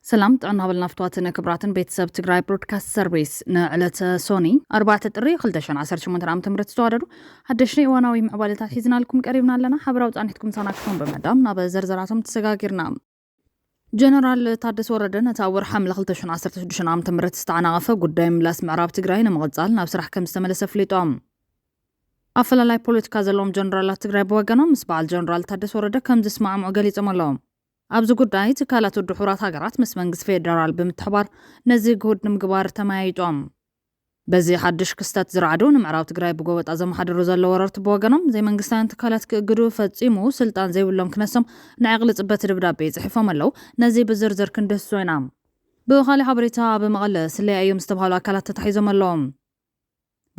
ሰላም ጥዕና በልና ፍትዋትን ክብራትን ቤተሰብ ትግራይ ብሮድካስት ሰርቪስ ንዕለተ ሶኒ 4 ጥሪ 218 ዓ ም ዝተዋደዱ ሓደሽቲ እዋናዊ ምዕባለታት ሒዝናልኩም ቀሪብና ኣለና ሓበራዊ ፃኒሕትኩም ሳና ክተን ብምዕዳም ናብ ዘርዘራቶም ተሰጋጊርና ጀነራል ታደሰ ወረደ ነቲ ኣብ ወርሒ ሓምለ 216 ዓ ም ዝተዓናቐፈ ጉዳይ ምላስ ምዕራብ ትግራይ ንምቕፃል ናብ ስራሕ ከም ዝተመለሰ ኣፍሊጦም ኣፈላላይ ፖለቲካ ዘለዎም ጀነራላት ትግራይ ብወገኖም ምስ በዓል ጀነራል ታደሰ ወረደ ከም ዝስማዕምዑ ገሊፆም ኣለዉ ኣብዚ ጉዳይ ትካላት ውድብ ሕቡራት ሃገራት ምስ መንግስቲ ፌደራል ብምትሕባር ነዚ ግሁድ ንምግባር ተመያይጦም በዚ ሓዱሽ ክስተት ዝረዓዱ ንምዕራብ ትግራይ ብጎበጣ ዘመሓድሩ ዘለዉ ወረርቲ ብወገኖም ዘይመንግስታውያን ትካላት ክእግዱ ፈጺሙ ስልጣን ዘይብሎም ክነሶም ንዕቕሊ ጽበት ድብዳቤ ጽሒፎም ኣለዉ። ነዚ ብዝርዝር ክንድህስሶ ኢና። ብኻሊእ ሓበሬታ ኣብ መቐለ ስለያ እዮም ዝተብሃሉ ኣካላት ተታሒዞም ኣለዉ።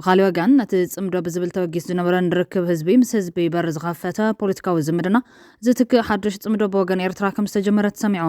ብኻሊእ ወገን ነቲ ጽምዶ ብዝብል ተበጊሱ ዝነበረን ርክብ ህዝቢ ምስ ህዝቢ በር ዝኸፈተ ፖለቲካዊ ዝምድና ዝትክእ ሓዱሽ ጽምዶ ብወገን ኤርትራ ከምዝተጀመረ ተሰሚዑ።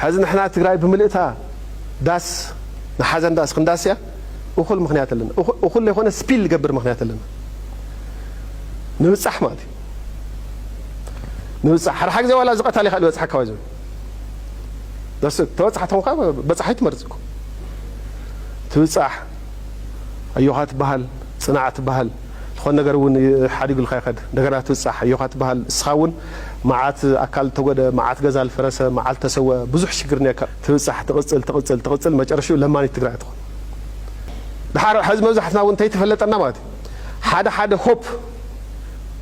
ሐዚ ንሕና ትግራይ ብምልእታ ዳስ ንሓዘን ዳስ ክንዳስ እያ እኹል ምኽንያት ኣለና እኹል ለይኾነ ስፒል ልገብር ምኽንያት ኣለና ንብፃሕ ማለት እዩ ንብፃሕ ሓደሓ ግዜ ዋላ ዝቐታል ይኽእል ይበፅሓካ ዋይ ዝብል ደስ ተበፃሕ ተኾንካ በፃሒ ትመርፅ እኮ ትብፃሕ ኣዮኻ ትበሃል ፅናዕ ትበሃል ዝኾነ ነገር እውን ሓዲጉልካ ይኸድ እንደገና ትብፃሕ ኣዮኻ ትበሃል እስኻ እውን መዓት ኣካል ዝተጎድኣ መዓት ገዛ ዝፈረሰ መዓት ዝተሰወ ብዙሕ ሽግር ኔርካ ትብጻሕ ትቅጽል ትቅጽል ትቅጽል መጨረሽትኡ ለማኒት ትግራይ ትኾን ድሓር ሐዚ መብዛሕትና እውን እንተይተፈለጠና ማለት እዩ ሓደ ሓደ ሆፕ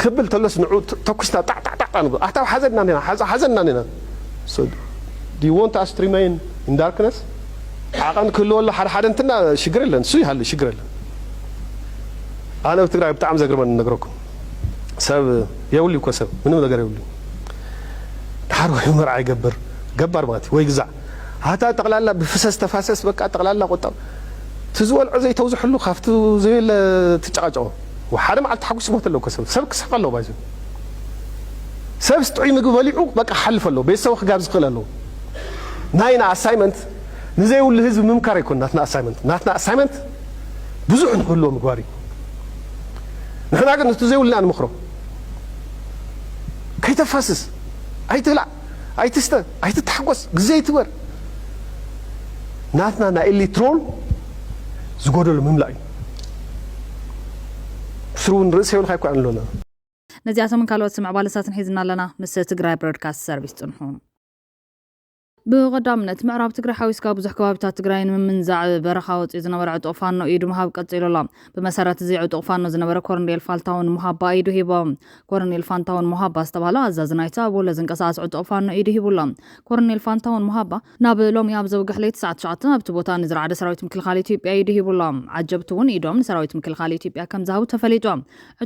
ክብል ተሎስ ንዑ ተኩስና ጣዕ ጣዕ ጣዕ ንብሎ ኣታ ሓዘና ኔርና ሓዘና ኔርና so do you want us to remain in darkness ዓቐን ክህልወሉ ሓደ ሓደ እንትና ሽግር የለን እሱ ይሃሉ ሽግር የለን ኣነ ኣብ ትግራይ ብጣዕሚ ዘግርመኒ ነግረኩም ሰብ የብሉይ እኮ ሰብ ምንም ነገር የብሉይ ድሓር ወይ መርዓ ይገብር ገባር ማለት እዩ ወይ ግዛዕ ኣታ ጠቕላላ ብፍሰስ ተፋሰስ በቃ ጠቕላላ ቁጠብ እቲ ዝበልዖ ዘይተውዝሐሉ ካብቲ ዘየለ ትጨቃጨቆ ሓደ መዓልቲ ተሓጒሱ ይሞት ኣሎ እኮ ሰብ ሰብ ክስሕቅ ኣለዎ ባይዘ ሰብስ ጥዑይ ምግቢ በሊዑ በቃ ክሓልፍ ኣለዎ ቤተሰቡ ክጋብዝ ክኽእል ኣለዎ ናይና ኣሳይመንት ንዘይብሉ ህዝቢ ምምካር ኣይኮን ናትና ኣሳይመንት ናትና ኣሳይመንት ብዙሕ ንክህልዎ ምግባር እዩ ንሕና ግን እቲ ዘይብልና ንመኽሮ ከይተፋስስ ኣይትብላዕ ኣይትስተ ኣይትታሓጎስ ግዜ ኣይትበር ናትና ናይ ኤሌክትሮን ዝጎደሉ ምምላእ እዩ ስሩ እውን ርእሰ ይብልካ ይኳ ኣለና ነዚኣቶምን ካልኦት ምዕባለታትን ሒዝና ኣለና ምስ ትግራይ ብሮድካስት ሰርቪስ ጽንሑ። ብቐዳምነት ምዕራብ ትግራይ ሓዊስካ ብዙሕ ከባቢታት ትግራይ ንምምንዛዕ በረኻ ወፂኡ ዝነበረ ዕጡቕ ፋኖ ኢዱ ምሃብ ቀፂሉ ኣሎ። ብመሰረት እዚ ዕጡቕ ፋኖ ዝነበረ ኮርኔል ፋልታውን ሙሃባ ኢዱ ሂቦ። ኮርኔል ፋንታውን ሙሃባ ዝተባህለ ኣዛዚ ናይቲ ኣብ ወሎ ዝንቀሳቐስ ዕጡቕ ፋኖ ኢዱ ሂቡ ኣሎ። ኮርኔል ፋንታውን ሙሃባ ናብ ሎሚ ኣብ ዘውግሕ ለይቲ ሰዓት ትሽዓተ ኣብቲ ቦታ ንዝረዓደ ሰራዊት ምክልኻል ኢትዮጵያ ኢዱ ሂቡ ኣሎ። ዓጀብቱ እውን ኢዶም ንሰራዊት ምክልኻል ኢትዮጵያ ከምዝሃቡ ተፈሊጡ።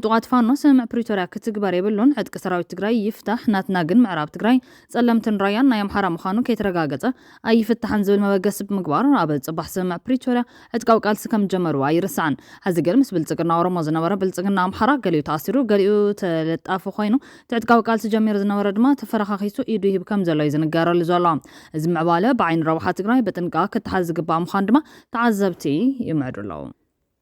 ዕጡቓት ፋኖ ስምምዕ ፕሪቶርያ ክትግበር የብሉን፣ ዕጥቂ ሰራዊት ትግራይ ይፍታሕ፣ ናትና ግን ምዕራብ ትግራይ ጸለምትን ራያን ናይ ኣምሓራ ምዃኑ ከይተረጋገጸ ኣይፍታሕን ዝብል መበገሲ ብምግባር ኣብ ጽባሕ ስምምዕ ፕሪቶርያ ዕጥቃዊ ቃልሲ ከም ዝጀመርዎ ኣይርሳዕን። ሐዚ ግን ምስ ብልጽግና ኦሮሞ ዝነበረ ብልጽግና ኣምሓራ ገሊኡ ተኣሲሩ ገሊኡ ተለጣፊ ኮይኑ እቲ ዕጥቃዊ ቃልሲ ጀሚሩ ዝነበረ ድማ ተፈረኻኺሱ ኢዱ ይህብ ከም ዘሎ እዩ ዝንገረሉ ዘሎ። እዚ ምዕባለ ብዓይኒ ረብሓ ትግራይ ብጥንቃቐ ክተሓዝ ዝግባእ ምዃኑ ድማ ተዓዘብቲ ይምዕዱ ኣለው።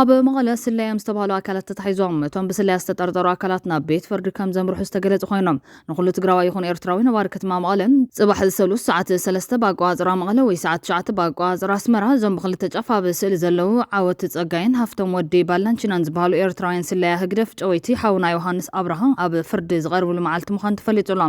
ኣብ መቐለ ስለያ'ዮም ዝተባህሉ ኣካላት ተታሒዞም። እቶም ብስለያ ዝተጠርጠሩ ኣካላት ናብ ቤት ፍርዲ ከም ዘምርሑ ዝተገለጹ ኮይኑ፣ ንኹሉ ትግራዋይ ይኹን ኤርትራዊ ነባሪ ክትማ መቐለ፣ ጽባሕ ሰሉስ ሰዓት ሰለስተ ብኣቆጻጽራ መቐለ ወይ ሰዓት ትሽዓተ ብኣቆጻጽራ ኣስመራ፣ እዞም ብኽልተ ጫፍ ኣብ ስእሊ ዘለዉ ዓወት ጸጋይን ሃፍቶም ወዲ ባላንቺናን ዝበሃሉ ኤርትራውያን ስለያ ህግደፍ ጨወይቲ ሓውና ዮሃንስ ኣብርሃ ኣብ ፍርዲ ዝቐርብሉ መዓልቲ ምዃኑ ተፈሊጡ'ሎ።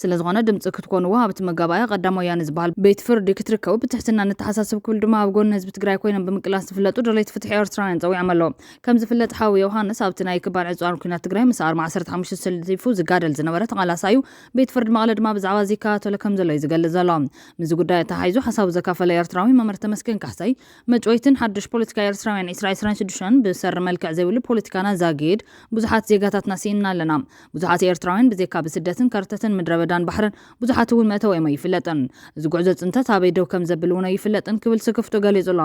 ስለዝኾነ ድምፂ ክትኮንዎ ኣብቲ መጋባእያ ቀዳም ወያነ ዝበሃል ቤት ፍርዲ ክትርከቡ ብትሕትና ነተሓሳስብ ክብል ድማ ኣብ ጎኒ ህዝቢ ትግራይ ኮይኖም ብምቅላስ ዝፍለጡ ደለይቲ ፍትሒ ኤርትራውያን ፀዊዖም ኣለዉ። ከምዝፍለጥ ሓው ዮውሃንስ ኣብቲ ናይ ክባን ዕፅዋን ኩናት ትግራይ ምስ ኣርማ ዓሰርተ ሓሙሽተ ተሰሊፉ ዝጋደል ዝነበረ ተቓላሳይ እዩ። ቤት ፍርዲ መቐለ ድማ ብዛዕባ እዚ ይከታተሎ ከምዘሎ እዩ ዝገልፅ ዘሎ። ምስዚ ጉዳይ ኣተሓሒዙ ሓሳቡ ዘካፈለ ኤርትራዊ መምህር ተመስገን ካሕሳይ መጭወይትን ሓዱሽ ፖለቲካ ኤርትራውያን ዕስራ ዕስራን ሽዱሽተን ብሰሪ መልክዕ ዘይብሉ ፖለቲካና ዛግይድ ብዙሓት ዜጋታትና ስኢንና ኣለና። ብዙሓት ኤርትራውያን ብዜካ ብስደትን ከርተትን ምድረበዳን ባሕርን ብዙሓት እውን መእተዊኦም ኣይፍለጥን። እዚ ጉዕዞ ጽንተት ኣበይ ደው ከም ዘብል እውን ኣይፍለጥን ክብል ስክፍትኡ ገሊጹ ኣሎ።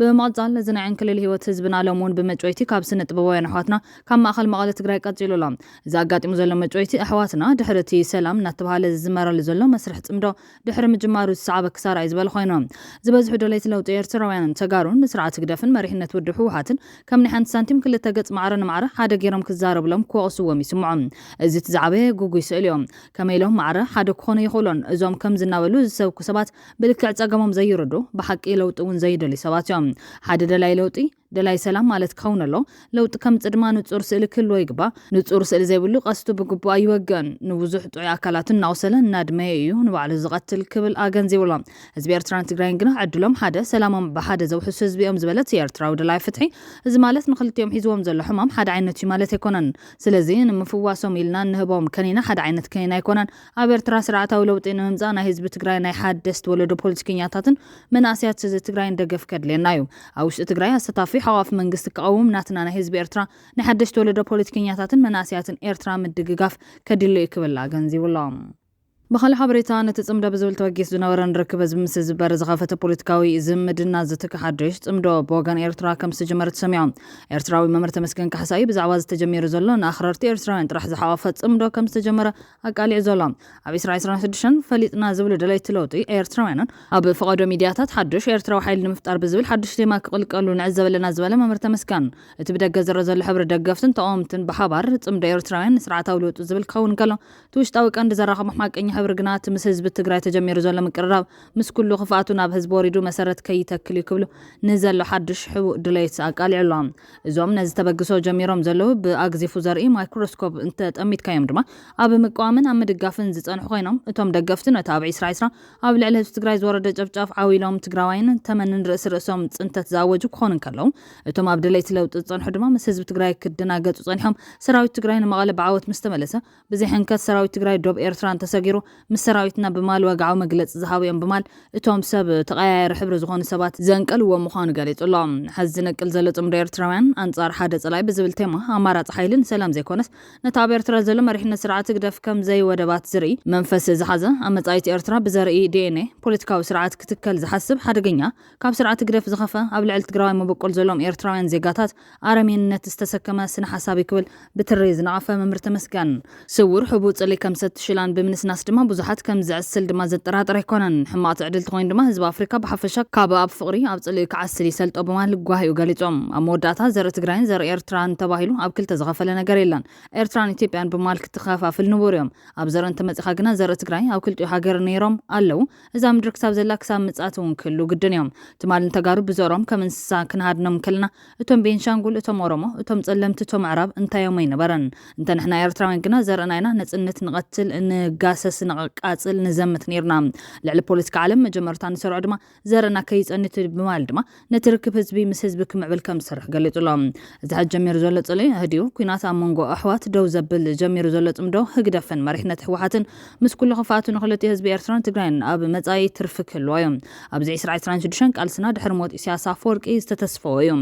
ብምቕጻል እዚ ናይ ዕንክሊል ህይወት ህዝብና ሎሚ እውን ብመጭወይቲ ካብ ስነ ጥበባውያን ኣሕዋትና ካብ ማእከል መቐለ ትግራይ ቀጺሉ ኣሎ። እዚ ኣጋጢሙ ዘሎ መጭወይቲ ኣሕዋትና ድሕሪ እቲ ሰላም እናተብሃለ ዝዝመረሉ ዘሎ መስርሕ ጽምዶ ድሕሪ ምጅማሩ ዝሰዓበ ክሳራ እዩ ዝበል ኾይኑ። ዝበዝሑ ደለይቲ ለውጢ ኤርትራውያንን ተጋሩን ንስርዓት ህግደፍን መሪሕነት ውድብ ህወሓትን ከም ናይ ሓንቲ ሳንቲም ክልተ ገጽ ማዕረ ንማዕረ ሓደ ጌሮም ክዛረብሎም ክወቕስዎም ይስምዖም። እዚ እቲ ዝዓበየ ግጉይ ስእሊ እዩ። ከመይ ኢሎም ማዕረ ሓደ ክኾኑ ኣይኽእሉን። እዞም ከምዚ እናበሉ ዝሰብኩ ሰባት ብልክዕ ጸገሞም ዘይርድኡ፣ ብሓቂ ለውጢ እውን ዘይደልዩ ሰባት እዮም። ሓደ ደላይ ለውጢ። ደላይ ሰላም ማለት ክኸውን ኣለዎ። ለውጢ ከምጽእ ድማ ንጹር ስእሊ ክህልዎ ይግባእ። ንጹር ስእሊ ዘይብሉ ቀስቱ ብግቡእ ኣይወግእን። ንብዙሕ ጥዑይ ኣካላቱ እናቑሰለ እናድመየ እዩ ንባዕሉ ዝቐትል ክብል ኣገንዚቡ ኣሎ። ህዝቢ ኤርትራን ትግራይን ግና ዕድሎም ሓደ፣ ሰላሞም ብሓደ ዘውሕሱ ህዝቢ እዮም ዝበለት ኤርትራዊ ደላይ ፍትሒ፣ እዚ ማለት ንኽልቲኦም ሒዝዎም ዘሎ ሕማም ሓደ ዓይነት እዩ ማለት ኣይኮነን። ስለዚ ንምፍዋሶም ኢልና እንህቦም ከኒና ሓደ ዓይነት ከኒና ኣይኮነን። ኣብ ኤርትራ ስርዓታዊ ለውጢ ንምምጻእ ናይ ህዝቢ ትግራይ ናይ ሓደስቲ ወለዶ ፖለቲከኛታትን መናእሰያት ህዚ ትግራይን ደገፍ ከድልየና እዩ። ኣብ ውሽጢ ትግራይ ኣሰታፊ ሓቋፊ መንግስቲ ክቐውም ናትና ናይ ህዝቢ ኤርትራ ናይ ሓደሽቲ ወለዶ ፖለቲከኛታትን መናእሰያትን ኤርትራ ምድግጋፍ ከድሊ እዩ ክብል ኣገንዚቡ ኣሎ። ብኻልእ ሓበሬታ ነቲ ጽምዶ ብዝብል ተበጊሱ ዝነበረ ንርክብ ህዝቢ ምስ ህዝቢ በር ዝኸፈተ ፖለቲካዊ ዝምድና ዝትክእ ሓድሽ ጽምዶ ብወገን ኤርትራ ከም ዝተጀመረ ተሰሚዑ። ኤርትራዊ መምህር ተመስገን ካሕሳይ ብዛዕባ እዚ ተጀሚሩ ዘሎ ንኣኽረርቲ ኤርትራውያን ጥራሕ ዝሓቖፈ ጽምዶ ከም ዝተጀመረ ኣቃሊዑ ዘሎ። ኣብ ዕስራ ዕስራን ሽዱሽተን ፈሊጥና ዝብሉ ደለይቲ ለውጢ ኤርትራውያንን ኣብ ፈቐዶ ሚድያታት ሓዱሽ ኤርትራዊ ሓይሊ ንምፍጣር ብዝብል ሓዱሽ ቴማ ክቕልቀሉ ንዕዘብ ኣለና ዝበለ መምህር ተመስገን እቲ ብደገ ዝረእ ዘሎ ሕብሪ ደገፍትን ተቐወምትን ብሓባር ጽምዶ ኤርትራውያን ንስርዓታዊ ልውጢ ዝብል ክኸውን ከሎ እቲ ውሽጣዊ ቀንዲ ዘራኽቦም ሓቀኛ ሕብሪ ግና እቲ ምስ ህዝቢ ትግራይ ተጀሚሩ ዘሎ ምቅርራብ ምስ ኩሉ ክፍኣቱ ናብ ህዝቢ ወሪዱ መሰረት ከይተክል እዩ ክብሉ ንዘሎ ሓዱሽ ሕቡእ ድሌት ኣቃሊዑ ኣሎ። እዞም ነዚ ተበግሶ ጀሚሮም ዘለዉ ብኣግዚፉ ዘርኢ ማይክሮስኮፕ እንተጠሚትካዮም ድማ ኣብ ምቅዋምን ኣብ ምድጋፍን ዝጸንሑ ኮይኖም እቶም ደገፍቱ ነቲ ኣብ ዒስራ ዒስራ ኣብ ልዕሊ ህዝቢ ትግራይ ዝወረደ ጨፍጫፍ ዓው ኢሎም ትግራዋይን ተመንን ርእሲ ርእሶም ጽንተት ዝኣወጁ ክኾኑ እንከለዉ እቶም ኣብ ደለይቲ ለውጢ ዝጸንሑ ድማ ምስ ህዝቢ ትግራይ ክደናገጹ ጸኒሖም ሰራዊት ትግራይ ንመቐለ ብዓወት ምስተመለሰ ብዘይሕንከት ሰራዊት ትግራይ ዶብ ኤርትራ እንተሰጊሩ ምስ ሰራዊትና ብማል ወግዓዊ መግለፂ ዝሃቡ'ዮም ብማል እቶም ሰብ ተቐያያሪ ሕብሪ ዝኾኑ ሰባት ዘንቀልዎ ምዃኑ ገሊፁ'ሎ። ሐዚ ዝነቅል ዘሎ ፅምዶ ኤርትራውያን ኣንፃር ሓደ ፀላኢ ብዝብል ቴማ ኣማራፂ ሓይሊ ንሰላም ዘይኮነስ ነቲ ኣብ ኤርትራ ዘሎ መሪሕነት ስርዓት ህግደፍ ከም ዘይወደባት ዝርኢ መንፈስ ዝሓዘ ኣብ መፃኢት ኤርትራ ብዘርኢ ዲኤንኤ ፖለቲካዊ ስርዓት ክትከል ዝሓስብ ሓደገኛ ካብ ስርዓት ህግደፍ ዝኸፈ ኣብ ልዕሊ ትግራዋይ መበቆል ዘሎዎም ኤርትራውያን ዜጋታት ኣረሜንነት ዝተሰከመ ስነ ሓሳብ'ዩ ክብል ብትሪ ዝነቐፈ መምህር ተመስገን፣ ስዉር ሕቡእ ጽልኢ ከም ሰቲ ሽላን ብምንስናስ ድማ ብዙሓት ከም ዘዕስል ድማ ዘጠራጥር ኣይኮነን። ሕማቕ ትዕድልቲ ኮይኑ ድማ ህዝቢ ኣፍሪካ ብሓፈሻ ካብ ኣብ ፍቕሪ ኣብ ጽልኢ ክዓስል ይሰልጦ ብምባል ጓሂኡ ገሊጹ። ኣብ መወዳእታ ዘርኢ ትግራይን ዘርኢ ኤርትራን ተባሂሉ ኣብ ክልተ ዝኸፈለ ነገር የለን። ኤርትራን ኢትዮጵያን ብምባል ክትኸፋፍል ንቡር'ዩ። ኣብ ዘርኢ እንተመጺእኻ ግና ዘርኢ ትግራይ ኣብ ክልቲኡ ሃገር ነይሮም፣ ኣለዉ፣ እዛ ምድሪ ክሳብ ዘላ ክሳብ ምጽኣት እውን ክህልው ግድን እዮም። ትማል ንተጋሩ ብዘሮም ከም እንስሳ ክንሃድኖም እንከለና እቶም ቤንሻንጉል እቶም ኦሮሞ እቶም ጸለምቲ እቶም ኣዕራብ እንታይ እዮም ኣይነበረን። እንተ ንሕና ኤርትራውያን ግና ዘርእና ኢና ነጽንት ንቐትል ንጋሰስ ነቐቃጽል ንዘምት ኔርና። ልዕሊ ፖለቲካ ዓለም መጀመርታ ንሰርዖ ድማ ዘርእና ከይጸንት ብማል ድማ ነቲ ርክብ ህዝቢ ምስ ህዝቢ ክምዕብል ከም ዝሰርሕ ገሊጹ ኣሎ። እዚ ሕጂ ጀሚሩ ዘሎ ጽልኢ ህድዩ ኲናት ኣብ መንጎ ኣሕዋት ደው ዘብል ጀሚሩ ዘሎ ጽምዶ ህግደፍን መሪሕነት ህወሓትን ምስ ኩሉ ክፍኣቱ ንክልቲኡ ህዝቢ ኤርትራን ትግራይን ኣብ መጻኢ ትርፊ ክህልዎ እዩ። ኣብዚ ዕስራ ዕስራን ሽዱሽተን ቃልስና ድሕሪ ሞት ኢሳያስ ኣፈወርቂ ዝተተስፈወ እዩ።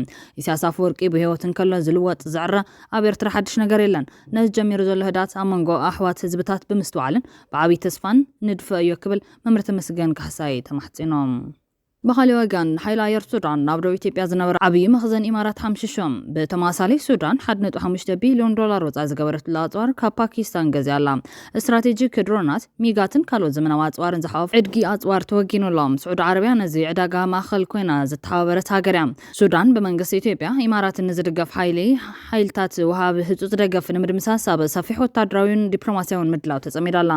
ኢሳያስ ኣፈወርቂ ብህይወት እንከሎ ዝልወጥ ዝዕረ ኣብ ኤርትራ ሓድሽ ነገር የለን። ነዚ ጀሚሩ ዘሎ ህድኣት ኣብ መንጎ ኣሕዋት ህዝብታት ብምስትውዓልን ብዓብይ ተስፋን ንድፈ እዮ ክብል መምህር ተመስገን ካሕሳይ ተማሕጺኖም። ብኻሊእ ወገን ሓይሊ ኣየር ሱዳን ናብ ደቡብ ኢትዮጵያ ዝነበረ ዓብዪ መኽዘን ኢማራት ሓምሺሹ። ብተመሳሳሊ ሱዳን ሓደ ነጥቢ ሓሙሽተ ቢሊዮን ዶላር ወፃኢ ዝገበረትሉ ኣፅዋር ካብ ፓኪስታን ገዚኣ ኣላ። ስትራቴጂክ ድሮናት፣ ሚጋትን ካልኦት ዘመናዊ ኣፅዋርን ዝሓቖፈ ዕድጊ ኣፅዋር ተወጊኑ ኣሎ። ስዑዲ ዓረብያ ነዚ ዕዳጋ ማእኸል ኮይና ዝተሓባበረት ሃገር እያ። ሱዳን ብመንግስቲ ኢትዮጵያ፣ ኢማራትን ንዝድገፍ ሓይሊ ሓይልታት ወሃቢ ህፁፅ ደገፍ ንምድምሳስ ኣብ ሰፊሕ ወታደራዊን ዲፕሎማሲያዊን ምድላው ተፀሚዳ ኣላ።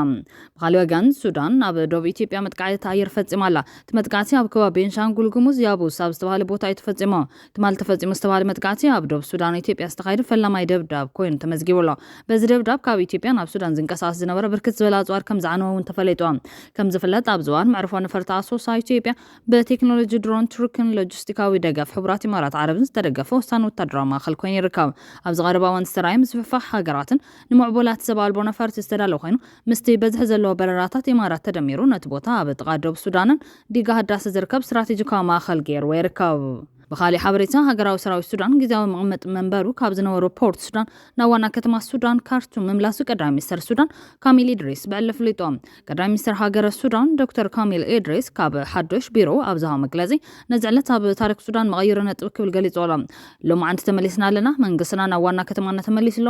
ብኻልእ ወገን ሱዳን ኣብ ዶብ ኢትዮጵያ መጥቃዕቲ ኣየር ፈጺማ ኣላ። እቲ መጥቃዕቲ ኣብ ከባቢ ቤንሻንጉል ጉሙዝ ያቡስ ኣብ ዝተባህለ ቦታ እዩ ተፈጺሙ። ትማሊ ተፈጺሙ ዝተባህለ መጥቃዕቲ ኣብ ዶብ ሱዳን ኢትዮጵያ ዝተኻየደ ፈላማይ ደብዳብ ኮይኑ ተመዝጊቡ ኣሎ። በዚ ደብዳብ ካብ ኢትዮጵያ ናብ ሱዳን ዝንቀሳቐስ ዝነበረ ብርክት ዝበለ ኣጽዋር ከም ዝዓነወ እውን ተፈሊጡ። ከም ዝፍለጥ ኣብዚ እዋን መዕርፎ ነፈርቲ ኣሶሳ ኢትዮጵያ ብቴክኖሎጂ ድሮን ቱርክን ሎጂስቲካዊ ደገፍ ሕቡራት ኢማራት ዓረብን ዝተደገፈ ወሳኒ ወታደራዊ ማእከል ኮይኑ ይርከብ። ኣብዚ ቀረባ እዋን ዝተራእየ ምስፍሕፋሕ ሃገራትን ንምዕቡላት ሰብ ኣልቦ ነፈርቲ ዝተዳለወ ኮይኑ፣ ምስቲ በዝሒ ዘለዎ በረራታት ኢማራት ተደሚሩ ነቲ ቦታ ኣብ ጥቓ ዶብ ሱዳንን ዲጋ ህዳሰ ዝርከብ ስትራቴጂካዊ ማእኸል ገይርዎ ይርከብ። ብኻሊእ ሓበሬታ ሃገራዊ ሰራዊት ሱዳን ግዝያዊ መቐመጢ መንበሩ ካብ ዝነበሮ ፖርት ሱዳን ናብ ዋና ከተማ ሱዳን ካርቱም ምምላሱ ቀዳማይ ሚኒስተር ሱዳን ካሚል ኢድሪስ ብዕሊ ኣፍሊጡ። ቀዳማይ ሚኒስተር ሃገረ ሱዳን ዶክተር ካሚል ኢድሪስ ካብ ሓዱሽ ቢሮኡ ኣብ ዝሃቦ መግለጺ ነዚ ዕለት ኣብ ታሪኽ ሱዳን መቐይሮ ነጥቢ ክብል ገሊጹዎ ኣሎ። ሎማዕንቲ ተመሊስና ኣለና፣ መንግስትና ናብ ዋና ከተማና ተመሊሱ ኣሎ፣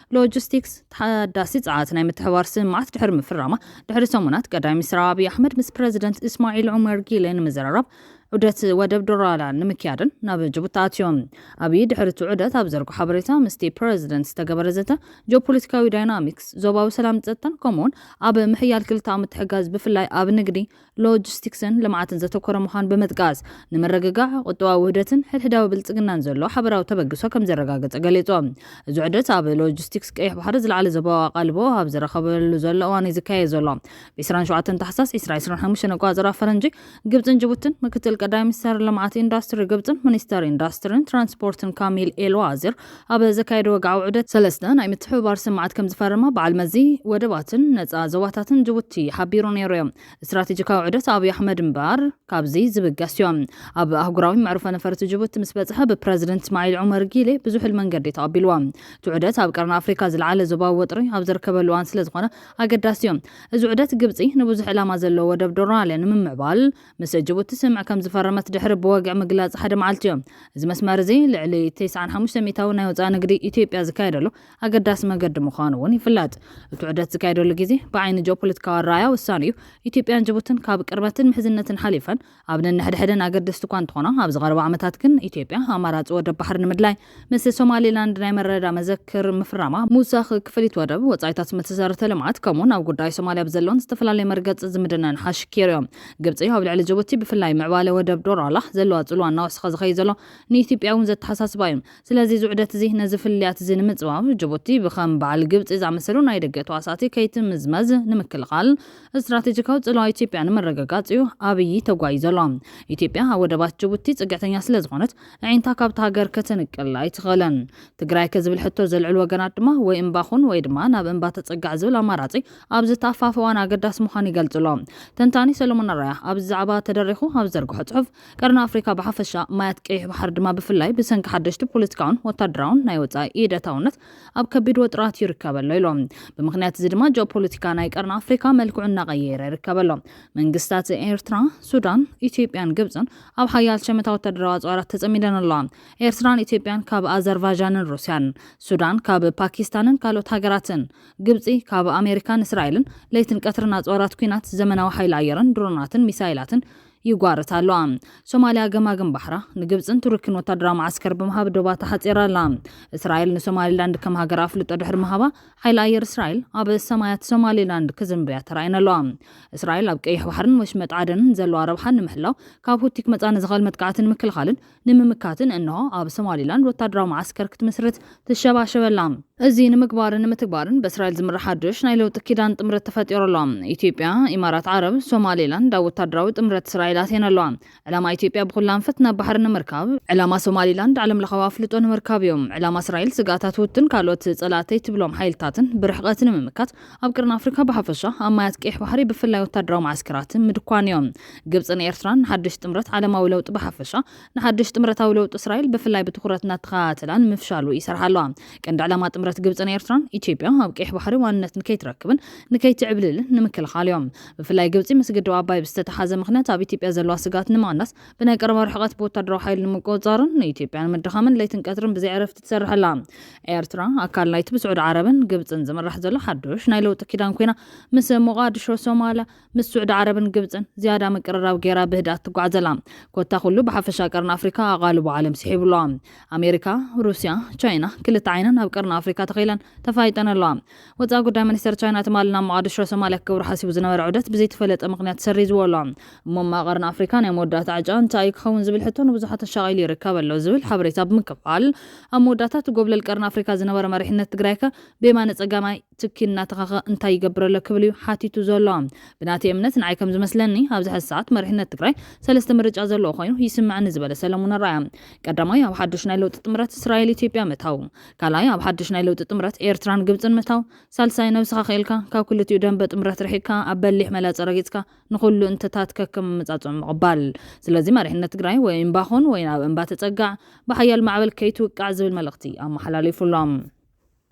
ሎጂስቲክስ ተሓዳሲ ጸዓት ናይ ምትሕባር ስምምዓት ድሕሪ ምፍራማ ድሕሪ ሰሙናት ቀዳማይ ሚኒስትር ኣብዪ ኣሕመድ ምስ ፕረዚደንት እስማዒል ዑመር ጊለ ንምዝርራብ ዑደት ወደብ ዶራላን ንምክያድን ናብ ጅቡቲ ኣትዮም። ኣብዪ ድሕሪ እቲ ዑደት ኣብ ዘርጎ ሓበሬታ ምስቲ ፕረዚደንት ዝተገበረ ዘተ ጂኦፖለቲካዊ ዳይናሚክስ፣ ዞባዊ ሰላምን ጸጥታን ከምኡ'ውን ኣብ ምሕያል ክልተኣዊ ምትሕግጋዝ ብፍላይ ኣብ ንግዲ፣ ሎጂስቲክስን ልምዓትን ዘተኮረ ምዃኑ ብምጥቃስ፣ ንምርግጋዕ ቁጠባዊ ውህደትን ሕድሕዳዊ ብልጽግናን ዘሎ ሓበራዊ ተበግሶ ከምዘረጋገጸ ገሊጾም። እዚ ዑደት ኣብ ሎጂስቲክስ ቀይሕ ባሕሪ ዝለዓለ ዞባዊ ኣቓልቦ ኣብ ዝረኸበሉ ዘሎ እዋን'ዩ ዝካየድ ዘሎ። ብ ዕስራን ሸውዓተን ታሕሳስ ዕስራ ዕስራን ሓሙሽተን ኣቆጻጽራ ፈረንጂ፣ ግብጽን ጅቡትን፣ ምክትል ቀዳማይ ሚኒስተር ልምዓት ኢንዳስትሪ ግብጽን ሚኒስተር ኢንዳስትሪን ትራንስፖርትን ካሚል ኤል ዋዚር ኣብ ዘካየዶ ወግዓዊ ዑደት፣ ሰለስተ ናይ ምትሕብባር ስምምዓት ከምዝፈረማ በዓል መዚ ወደባትን ነጻ ዞባታትን ጅቡቲ ሓቢሩ ነይሩዮ። ስትራቴጂካዊ ዑደት ኣብይ ኣሕመድ እምበኣር ካብዚ ዝብገስዮ። ኣብ ኣህጉራዊ መዕርፎ ነፈርቲ ጅቡቲ ምስ በጽሐ ብፕረዚደንት እስማዒል ዑመር ጊሌ ብዙሕል መንገዲ ተቐቢሉዎ። እቲ ዑደት ኣብ ቀርኒ ኣፍሪካ ዝለዓለ ዞባዊ ወጥሪ ኣብ ዝርከበሉ እዋን ስለዝኾነ ኣገዳሲዮ። እዚ ዑደት ግብጺ ንብዙሕ ዕላማ ዘለዎ ወደብ ዶራለ ንምምዕባል ምስ ጅቡቲ ስምምዕ ከም ዝፈረመት ድሕሪ ብወግዒ ምግላጽ ሓደ መዓልቲዮ። እዚ መስመር እዚ ልዕሊ ተስዓን ሓሙሽተን ሚእታዊ ናይ ወጻኢ ንግዲ ኢትዮጵያ ዝካየደሉ ኣገዳሲ መገዲ ምዃኑ እውን ይፍለጥ። እቲ ዑደት ዝካየደሉ ግዜ ብዓይኒ ጂኦፖለቲካዊ ኣረኣእያ ወሳኒ እዩ። ኢትዮጵያን ጅቡትን ካብ ቅርበትን ምሕዝነትን ሓሊፈን ኣብ ነንሕድሕደን ኣገደስቲ እኳ እንተኾና፣ ኣብዚ ቀረባ ዓመታት ግን ኢትዮጵያ ኣማራጺ ወደብ ባሕሪ ንምድላይ ምስ ሶማሊላንድ ናይ መረዳዳ መዘክር ምፍራማ፣ ምውሳኽ ክፍሊት ወደብ፣ ወጻኢታት መተሰረተ ልምዓት፣ ከምኡ'ውን ኣብ ጉዳይ ሶማልያ ብዘለወን ዝተፈላለየ መርገጽ ዝምድነን ሓሽኪሩዮ። ግብጺ ኣብ ልዕሊ ጅቡቲ፣ ብፍላይ ምዕባለ ወደብ ዶራላህ፣ ዘለዋ ጽልዋ እናወሰኸ ዝኸይድ ዘሎ ንኢትዮጵያ'ውን ዘተሓሳስባ'ዩ። ስለዚ እዚ ውዕደት'ዚ ነዚ ፍልልያት'ዚ ንምጽባብ፣ ጅቡቲ ብከም በዓል ግብጺ ዝኣመሰሉ ናይ ደገ ተዋሳእቲ ከይትምዝመዝ ንምክልኻል፣ ስትራቴጂካዊ ጽልዋ ኢትዮጵያ ንምርግጋጽ'ዩ ኣብዪ ተጓዩ ዘሎ። ኢትዮጵያ ኣብ ወደባት ጅቡቲ ጽግዕተኛ ስለዝኾነት፣ ኣዒንታ ካብታ ሃገር ከተንቅል ኣይትኽእልን። ትግራይከ ዝብል ሕቶ ዘልዕሉ ወገናት ድማ ወይ እምባ ኹን ወይ ድማ ናብ እምባ ተፀጋዕ ዝብል ኣማራፂ ኣብዚ ተኣፋፊ እዋን ኣገዳሲ ምዃኑ ይገልፅ'ሎ። ተንታኒ ሰሎሞን ኣርኣያ ኣብዚ ዛዕባ ተደሪኹ ኣብ ዝዘርግሖ ፅሑፍ፣ ቀርኒ ኣፍሪካ ብሓፈሻ ማያት ቀይሕ ባሕሪ ድማ ብፍላይ ብሰንኪ ሓደሽቲ ፖለቲካውን ወታደራውን ናይ ወፃኢ ኢድ ኣታውነት ኣብ ከቢድ ወጥራት ይርከበ'ሎ ኢሉ። ብምኽንያት እዚ ድማ ጂኦፖለቲካ ናይ ቀርኒ ኣፍሪካ መልክዑ እናቐየረ ይርከበ'ሎ። መንግስታት ኤርትራ፣ ሱዳን፣ ኢትዮጵያን ግብፅን ኣብ ሓያል ሸመታ ወተሃደራዊ ኣጽዋራት ተጸሚደን ኣለዋ። ኤርትራን ኢትዮጵያን ካብ ኣዘርቫዣንን ሩስያን፣ ሱዳን ካብ ፓኪስታንን ካልኦት ሃገራትን፣ ግብጺ ካብ ኣሜሪካን እስራኤልን ለይትን ቀትርን ኣጽዋራት ኲናት፣ ዘመናዊ ሓይሊ ኣየርን ድሮናትን ሚሳይላትን ይጓርታ ኣለዋ። ሶማልያ ገማግም ባሕራ ንግብጽን ቱርኪን ወተሃደራዊ መዓስከር ብምሃብ ዶባ ተሓጺራ ኣላ። እስራኤል ንሶማሊላንድ ከም ሃገር ኣፍልጦ ድሕሪ ምሃባ፣ ሓይሊ ኣየር እስራኤል ኣብ ሰማያት ሶማሊላንድ ክዝምብያ ተራእየን ኣለዋ። እስራኤል ኣብ ቀይሕ ባሕርን ወሽመጥ ዓደንን ዘለዋ ረብሓ ንምሕላው፣ ካብ ሁቲ ክመጽኣ ንዝኽእል መጥቃዕቲ ንምክልኻልን ንምምካትን እንሆ ኣብ ሶማሊላንድ ወታደራዊ መዓስከር ክትምስርት ትሸባሸብ ኣላ። እዚ ንምግባርን ንምትግባርን በእስራኤል ዝምራሕ ሓዱሽ ናይ ለውጢ ኪዳን ጥምረት ተፈጢሩ ኣሎ። ኢትዮጵያ፣ ኢማራት ዓረብ፣ ሶማሊላንድ ኣብ ወታደራዊ ጥምረት እስራኤል ኣትየን ኣለዋ። ዕላማ ኢትዮጵያ ብኹሉ ኣንፈት ናብ ባሕሪ ንምርካብ። ዕላማ ሶማሊላንድ ዓለምለኻዊ ኣፍልጦ ንምርካብ እዩ። ዕላማ እስራኤል ስግኣታት ሁቲን ካልኦት ፀላእተይ ትብሎም ሓይልታትን ብርሕቐት ንምምካት ኣብ ቀርኒ ኣፍሪካ ብሓፈሻ ኣብ ማያት ቀይሕ ባሕሪ ብፍላይ ወታደራዊ መዓስከራት ምድኳን እዩ። ግብፅን ኤርትራን ንሓዱሽ ጥምረት ዓለማዊ ለውጢ ብሓፈሻ ንሓዱሽ ጥምረታዊ ለውጢ እስራኤል ብፍላይ ብትኹረት እናተኸታተላ ንምፍሻሉ ይሰርሓ ኣለዋ። ቀንዲ ዕላማ ጥምረት ግብፅን ኤርትራን ኢትዮጵያ ኣብ ቀይሕ ባሕሪ ዋንነት ንከይትረክብን ንከይትዕብልልን ንምክልኻል እዮም። ብፍላይ ግብጺ ምስ ግድብ ኣባይ ብዝተተሓዘ ምኽንያት ኣብ ኢትዮጵያ ዘለዋ ስግኣት ንምቕናስ ብናይ ቀረባ ርሕቐት ብወታደራዊ ሓይሊ ንምቁጽጻርን ንኢትዮጵያ ንምድኻምን ለይትን ቀትርን ብዘይ ዕረፍቲ ትሰርሕ ኣላ። ኤርትራ ኣካል ናይቲ ብስዑዲ ዓረብን ግብጽን ዝምራሕ ዘሎ ሓዱሽ ናይ ለውጢ ኪዳን ኮይና ምስ ሞቓድሾ ሶማልያ ምስ ስዑዲ ዓረብን ግብጽን ዝያዳ ምቅርራብ ገይራ ብህድኣት ትጓዓዝ ኣላ። ኮታ ኩሉ ብሓፈሻ ቀርኒ ኣፍሪካ ኣቓልቦ ዓለም ስሒቡ ኣሎ። ኣሜሪካ፣ ሩስያ፣ ቻይና ክልተ ዓይነን ኣብ ቀርኒ ኣፍሪካ ተኺለን ተፋይጠን ኣለዋ። ወጻኢ ጉዳይ ሚኒስተር ቻይና ትማሊ ናብ መቓድሾ ሶማልያ ክገብሮ ሓሲቡ ዝነበረ ዑደት ብዘይተፈለጠ ምኽንያት ሰሪዝዎ ኣሎ። እሞ እማ ቀርኒ ኣፍሪካ ናይ መወዳእታ ዕጫ እንታይ እዩ ክኸውን ዝብል ሕቶ ንብዙሓት ኣሻቒሉ ይርከብ ኣሎ ዝብል ሓበሬታ ብምክፋል ኣብ መወዳእታ እቲ ጎብለል ቀርኒ ኣፍሪካ ዝነበረ መሪሕነት ትግራይከ ብየማነ ጸጋማይ ትኪ እናተኸኸ እንታይ ይገብር ኣሎ ክብል እዩ ሓቲቱ ዘሎ። ብናተይ እምነት ንዓይ ከም ዝመስለኒ ኣብዚ ሕዚ ሰዓት መሪሕነት ትግራይ ሰለስተ ምርጫ ዘለዎ ኮይኑ ይስመዐኒ ዝበለ ሰለሙን ኣርኣያ ቀዳማይ ኣብ ሓዱሽ ናይ ለውጢ ጥምረት እስራኤል ኢትዮጵያ ምእታው ካልኣይ ኣብ ሓድሽ ናይ ለውጢ ጥምረት ኤርትራን ግብጽን ምእታው፣ ሳልሳይ ነብስኻ ክኢልካ ካብ ክልቲኡ ደምበ ጥምረት ርሒቅካ ኣብ በሊሕ መላጸ ረጊጽካ ንኹሉ እንተታት ከከም ኣመጻጽእኦም ምቕባል። ስለዚ መሪሕነት ትግራይ ወይ እምባ ኹን ወይ ናብ እምባ ተጸጋዕ፣ ብሓያል ማዕበል ከይትውቃዕ ዝብል መልእኽቲ ኣመሓላሊፉ ኣሎ።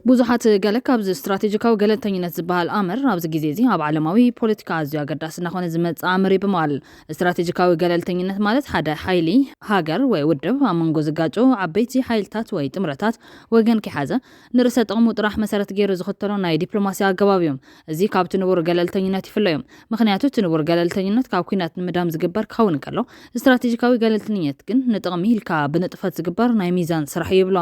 ብዙሓት ገለ ካብዚ ስትራቴጂካዊ ገለልተኝነት ዝበሃል ኣምር ኣብዚ ግዜ'ዚ ኣብ ዓለማዊ ፖለቲካ ኣዝዩ ኣገዳሲ እናኾነ ዝመጽእ ኣምር እዩ ብምባል ስትራቴጂካዊ ገለልተኝነት ማለት ሓደ ሓይሊ፣ ሃገር ወይ ውድብ ኣብ መንጎ ዝጋጨዉ ዓበይቲ ሓይልታት ወይ ጥምረታት ወገን ከይሓዘ፣ ንርእሰ ጥቕሙ ጥራሕ መሰረት ገይሩ ዝኽተሎ ናይ ዲፕሎማሲ ኣገባብ እዩ። እዚ ካብቲ ንቡር ገለልተኝነት ይፍለዮ። ምኽንያቱ እቲ ንቡር ገለልተኝነት ካብ ኲናት ንምህዳም ዝግበር ክኸውን እንከሎ፣ ስትራቴጂካዊ ገለልተኝነት ግን ንጥቕሚ ኢልካ ብንጥፈት ዝግበር ናይ ሚዛን ስራሕ እዩ ይብሎ።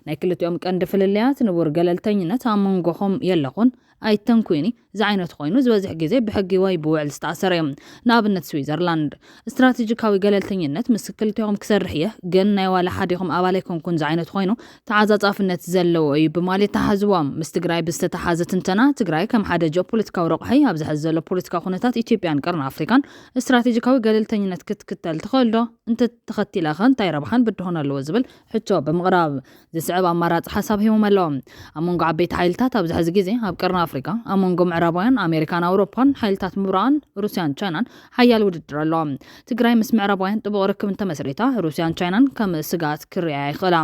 ናይ ክልቲኦም ቀንዲ ፍልልያት፣ ንቡር ገለልተኝነት ኣብ መንጎኹም የለኹን፣ ኣይተንኩይኒ ዝዓይነቱ ኮይኑ ዝበዝሕ ግዜ ብሕጊ ወይ ብውዕል ዝተኣሰረ እዩ። ንኣብነት ስዊዘርላንድ። ስትራቴጂካዊ ገለልተኝነት ምስ ክልቴኹም ክሰርሕ እየ ግን ናይ ዋላ ሓዲኹም ኣባል ኣይኮንኩን ዝዓይነቱ ኮይኑ ተዓጻጻፍነት ዘለዎ እዩ ብማል የተሓዝዎ። ምስ ትግራይ ብዝተተሓዘ ትንተና ትግራይ ከም ሓደ ጂኦፖለቲካዊ ረቑሒ ኣብዚ ሐዚ ዘሎ ፖለቲካዊ ኩነታት ኢትዮጵያን ቀርኒ ኣፍሪካን ስትራቴጂካዊ ገለልተኝነት ክትክተል ትኽእልዶ? እንተተኸቲላኸ እንታይ ረብሓን ብድሆን ኣለዎ ዝብል ሕቶ ብምቕራብ ዝስዕብ ኣማራጺ ሓሳብ ሂቦም ኣለዉ። ኣብ መንጎ ዓበይቲ ሓይልታት ኣብዚ ሕዚ ግዜ ኣብ ቀርኒ ኣፍሪቃ፣ ኣብ መንጎ ምዕራባውያን፣ ኣሜሪካን ኣውሮፓን፣ ሓይልታት ምብራቕን፣ ሩስያን ቻይናን ሓያል ውድድር ኣሎ። ትግራይ ምስ ምዕራባውያን ጥቡቕ ርክብ እንተመስሪታ፣ ሩስያን ቻይናን ከም ስግኣት ክርእያ ይኽእላ።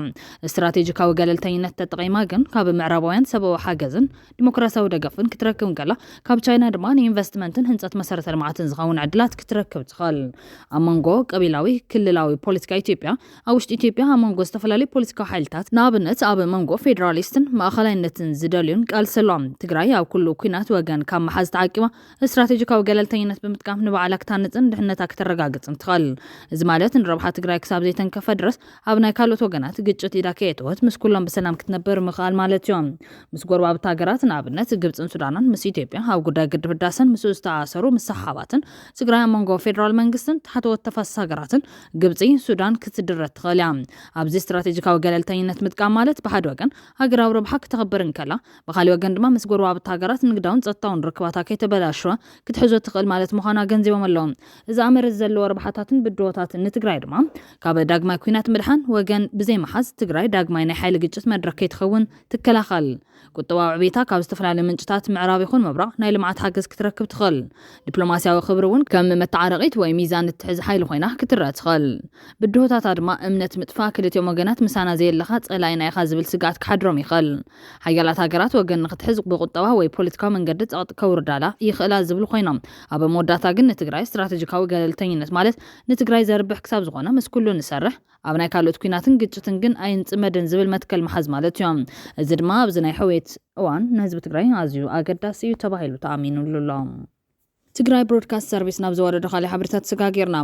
ስትራቴጂካዊ ገለልተኝነት ተጠቒማ ግን ካብ ምዕራባውያን ሰብኣዊ ሓገዝን ዲሞክራሲያዊ ደገፍን ክትረክብ እንከላ፣ ካብ ቻይና ድማ ንኢንቨስትመንትን ህንጸት መሰረተ ልምዓትን ዝኸውን ዕድላት ክትረክብ ትኽእል። ኣብ መንጎ ቀቢላዊ ክልላዊ ፖለቲካ ኢትዮጵያ፣ ኣብ ውሽጢ ኢትዮጵያ ኣብ መንጎ ዝተፈላለዩ ፖለቲካዊ ሓይልታት ንኣብነት ኣብ መንጎ ፌደራሊስትን ማእኸላይነትን ዝደልዩን ቃልሲ ኣሎ። ትግራይ ኣብ ኩሉ ኲናት ወገን ካብ ምሓዝ ተዓቂባ ስትራቴጂካዊ ገለልተኝነት ብምጥቃም ንባዕላ ክታንፅን ድሕነታ ክተረጋግፅን ትኽእል። እዚ ማለት ንረብሓ ትግራይ ክሳብ ዘይተንከፈ ድረስ ኣብ ናይ ካልኦት ወገናት ግጭት ኢዳ ከየእተወት ምስ ኩሎም ብሰላም ክትነብር ምኽኣል ማለት እዩ። ምስ ጎረባብቲ ሃገራት ንኣብነት ግብፅን ሱዳንን ምስ ኢትዮጵያ ኣብ ጉዳይ ግድብ ህዳሰን ምስኡ ዝተኣኣሰሩ ምስሕሓባትን ትግራይ ኣብ መንጎ ፌደራል መንግስትን ታሕተዎት ተፋሰስ ሃገራትን ግብጺ ሱዳን ክትድረት ትኽእል እያ። ኣብዚ ስትራቴጂካዊ ገለልተኝነት ምጥቃም ማለት ብሓደ ወገን ሃገራዊ ረብሓ ክተኽብር እንከላ፣ ብኻልእ ወገን ድማ ምስ ጎረባብቲ ሃገራት ንግዳውን ጸጥታውን ርክባታ ከይተበላሸወ ክትሕዞ ትኽእል ማለት ምዃኑ ኣገንዚቦም ኣለው። እዚ ኣምር እዚ ዘለዎ ረብሓታትን ብድሆታትን ንትግራይ ድማ ካብ ዳግማይ ኲናት ምድሓን ወገን ብዘይምሓዝ፣ ትግራይ ዳግማይ ናይ ሓይሊ ግጭት መድረኽ ከይትኸውን ትከላኸል። ቁጠባዊ ዕብየታ ካብ ዝተፈላለዩ ምንጭታት ምዕራብ ይኹን ምብራቕ ናይ ልምዓት ሓገዝ ክትረክብ ትኽእል። ዲፕሎማሲያዊ ክብሪ እውን ከም መተዓረቒት ወይ ሚዛን እትሕዝ ሓይሊ ኮይና ክትረኣ ትኽእል። ብድሆታታ ድማ እምነት ምጥፋእ፣ ክልቲኦም ወገናት ምሳና ዘየለኻ ጸላኢና ኢኻ ዝብል ስግኣት ክሓድሮም ይኽእል። ሓያላት ሃገራት ወገን ንኽትሕዝ ብቁጠባ ወይ ፖለቲካዊ መንገዲ ጸቕጢ ከውርዳላ ይኽእላ ዝብሉ ኮይኖም ኣብ መወዳእታ ግን ንትግራይ ስትራተጂካዊ ገለልተኝነት ማለት ንትግራይ ዘርብሕ ክሳብ ዝኾነ ምስ ኩሉ ንሰርሕ ኣብ ናይ ካልኦት ኲናትን ግጭትን ግን ኣይንጽመድን ዝብል መትከል ምሓዝ ማለት እዩ። እዚ ድማ ኣብዚ ናይ ሕውየት እዋን ንህዝቢ ትግራይ ኣዝዩ ኣገዳሲ እዩ ተባሂሉ ተኣሚንሉ ኣሎ። ትግራይ ብሮድካስት ሰርቪስ ናብ ዘወረዶ ካሊእ ሓበሬታ ተሰጋጊርና።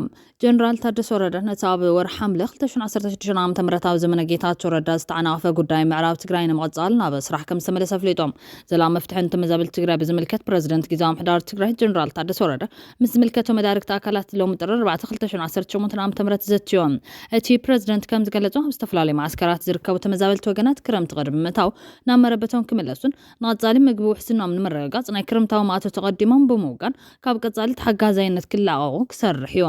ጀነራል ታደሰ ወረደ ነቲ ኣብ ወርሒ ሓምለ ክልተ ሽሕን ዓሰርተ ሽዱሽተን ዓመተ ምህረት ኣብ ዘመነ ጌታቸው ረዳ ዝተዓናቐፈ ጉዳይ ምዕራብ ትግራይ ንምቕፃል ናብ ስራሕ ከምዝተመለሰ ኣፍሊጦም። ዘላቒ መፍትሒ ንተመዛበልቲ ትግራይ ብዝምልከት ፕረዚደንት ጊዚያዊ ምሕዳር ትግራይ ጀነራል ታደሰ ወረደ ምስ ዝምልከቶም መዳርግቲ ኣካላት ሎሚ ጥሪ ኣርባዕተ ክልተ ሽሕን ዓሰርተ ሸሞንተን ዓመተ ምህረት ዘትዮ። እቲ ፕረዚደንት ከም ዝገለጾ፣ ኣብ ዝተፈላለዩ መዓስከራት ዝርከቡ ተመዛበልቲ ወገናት ክረምቲ ቅድሚ ምእታዉ ናብ መረበቶም ክምለሱን ንቐጻሊ ምግቢ ውሕስንኦም ንምርግጋጽ ናይ ክረምታዊ ማእቶት ቐዲሞም ብምውጋን ካብ ቀጻሊ ተሓጋዛይነት ክላቐቑ ክሰርሕ እዩ።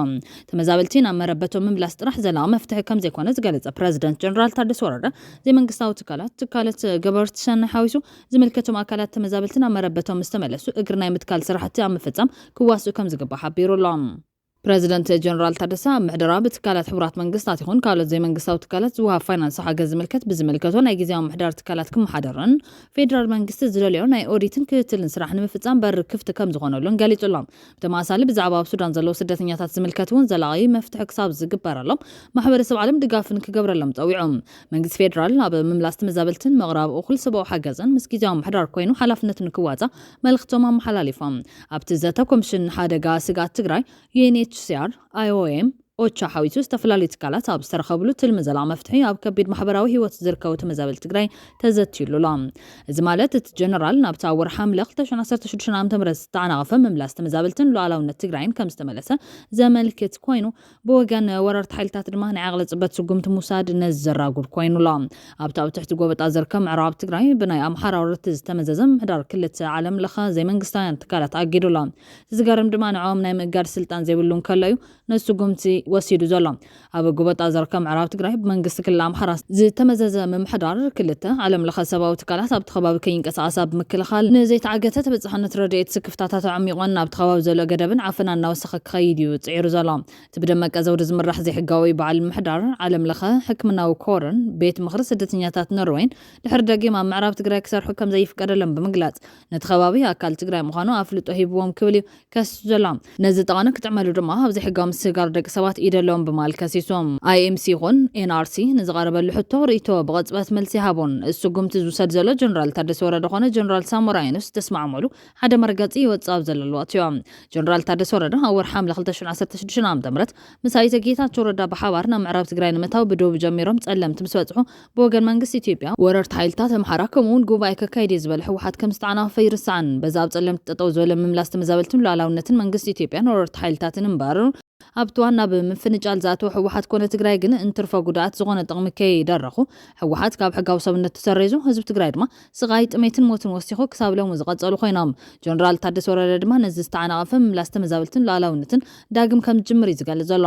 ተመዛበልቲ ናብ መረበቶም ምምላስ ጥራሕ ዘላቒ መፍትሒ ከም ዘይኮነ ዝገለጸ ፕረዚደንት ጀነራል ታደሰ ወረደ፣ ዘይመንግስታዊ ትካላት፣ ትካለት ገበርቲ ሰናይ ሓዊሱ ዝምልከቶም ኣካላት ተመዛበልቲ ናብ መረበቶም ምስ ተመለሱ እግሪ ናይ ምትካል ስራሕቲ ኣብ ምፍፃም ክዋስኡ ከም ዝግባእ ሓቢሩ ኣሎ። ፕረዚደንት ጀነራል ታደሰ፣ ኣብ ምሕደራ ብትካላት ሕቡራት መንግስታት ይኹን ካልኦት ዘይመንግስታዊ ትካላት ዝወሃብ ፋይናንስ ሓገዝ ዝምልከት ብዝምልከቶ ናይ ግዝያዊ ምምሕዳር ትካላት ክመሓደርን ፌዴራል መንግስቲ ዝደለዮ ናይ ኦዲትን ክትትልን ስራሕ ንምፍፃም በሪ ክፍቲ ከም ዝኾነሉን ገሊፁ ኣሎ። ብተመሳሳሊ ብዛዕባ ኣብ ሱዳን ዘለዉ ስደተኛታት ዝምልከት እውን ዘላቒ መፍትሒ ክሳብ ዝግበረሎም ማሕበረሰብ ዓለም ድጋፍ ንክገብረሎም ፀዊዑ። መንግስቲ ፌደራል ኣብ ምምላስ ተመዛበልትን ምቕራብ እኹል ሰብኣዊ ሓገዝን ምስ ግዝያዊ ምምሕዳር ኮይኑ ሓላፍነቱ ንክዋፃእ መልኽቶም ኣመሓላሊፎም። ኣብቲ ዘተ ኮሚሽን ንሓደጋ ስግኣት ትግራይ፣ UNHCR፣ IOM፣ ኦቻ ሓዊሱ ዝተፈላለዩ ትካላት ኣብ ዝተረኸብሉ ትልሚ ዘላቒ መፍትሒ ኣብ ከቢድ ማሕበራዊ ህይወት ዝርከቡ ተመዛበልቲ ትግራይ ተዘትዩሉ ኣሎ። እዚ ማለት እቲ ጀነራል ናብቲ ኣብ ወርሒ ሓምለ ክልተ ሽሕን ዓሰርተ ሽዱሽተን ዓመተ ምህረት ዝተዓናቐፈ ምምላስ ተመዛበልትን ሉኣላውነት ትግራይን ከምዝተመለሰ ዘመልክት ኮይኑ ብወገን ወረርቲ ሓይልታት ድማ ናይ ዓቕሊ ፅበት ስጉምቲ ምውሳድ ነዘራጉድ ኮይኑ ኣሎ። ኣብቲ ኣብ ትሕቲ ጎበጣ ዝርከብ ምዕራብ ትግራይ ብናይ ኣምሓራ ወረርቲ ዝተመዘዘ ምምሕዳር ክልተ ዓለም ለኸ ዘይመንግስታውያን ትካላት ኣጊዱ ኣሎ። እቲ ዝገርም ድማ ንዕኦም ናይ ምእጋድ ስልጣን ዘይብሉ እንከሎ እዩ ነዚ ስጉምቲ ወሲዱ ዘሎ። ኣብ ጎበጣ ዝርከብ ምዕራብ ትግራይ ብመንግስቲ ክልል ኣምሓራ ዝተመዘዘ ምምሕዳር ክልተ ዓለም ለኸ ሰብኣዊ ትካላት ኣብቲ ከባቢ ከይንቀሳቐሳ ብምክልኻል ንዘይተዓገተ ተበፃሕነት ረድኤት ስክፍታታት ኣዕሚቖን ኣብቲ ከባቢ ዘሎ ገደብን ዓፈናን እናወሰኸ ብሓቂ ክኸይድ እዩ ጽዒሩ ዘሎ። እቲ ብደመቀ ዘውዲ ዝምራሕ ዘይሕጋዊ በዓል ምሕዳር፣ ዓለም ለኸ ሕክምናዊ ኮርን ቤት ምኽሪ ስደተኛታት ኖርወይን ድሕሪ ደጊም ኣብ ምዕራብ ትግራይ ክሰርሑ ከም ዘይፍቀደሎም ብምግላጽ ነቲ ከባቢ ኣካል ትግራይ ምዃኑ ኣፍልጦ ሂብዎም ክብል እዩ ከሲሱ ዘሎ። ነዚ ጠቐነ ክጥዕመሉ ድማ ኣብ ዘይሕጋዊ ምስግጋር ደቂ ሰባት ኢድ ኣለዎም ብምባል ከሲሱ። IMC ይኹን NRC ንዝቐረበሉ ሕቶ ርእይቶ ብቕጽበት መልሲ ኣይሃቦን። እቲ ስጉምቲ ዝውሰድ ዘሎ ጀነራል ታደሰ ወረደ ኮነ ጀነራል ሳሞራ የኑስ ዝተስማዕምዕሉ ሓደ መርገጺ ይወጽእ ኣብ ዘለሉ ኣትዮ። ጀነራል ታደሰ ወረደ ኣብ ወርሒ ሓምለ ክልተ ሽሕ ዓሰርተ ሽዱሽተ ዓ.ም ምስ ኣይተ ጌታቸው ረዳ ብሓባር ናብ ምዕራብ ትግራይ ንምእታው ብዶብ ጀሚሮም ፀለምቲ ምስ በፅሑ ብወገን መንግስቲ ኢትዮጵያ ወረርቲ ሓይልታት ኣምሓራ ከምኡ እውን ጉባኤ ከካይድ እየ ዝበለ ህወሓት ከም ዝተዓናቐፈ ኣይርሳዕን። በዚ ኣብ ፀለምቲ ጠጠው ዝበለ ምምላስ ተመዛበልትን ሉኣላውነትን መንግስቲ ኢትዮጵያን ወረርቲ ሓይልታትን እምበር ኣብቲ ዋና ብምፍንጫል ዝኣተወ ህወሓት ኮነ ትግራይ ግን እንትርፎ ጉድኣት ዝኾነ ጥቕሚ ከይደረኹ ህወሓት ካብ ሕጋዊ ሰብነቱ ሰሪዙ ህዝቢ ትግራይ ድማ ስቓይ፣ ጥሜትን ሞትን ወሲኹ ክሳብ ሎሚ ዝቐጸሉ ኮይኖም፣ ጀነራል ታደሰ ወረደ ድማ ነዚ ዝተዓናቐፈ ምምላስ ተመዛበልትን ሉኣላዊነትን ዳግም ከም ዝጅምር እዩ ዝገልጽ ዘሎ።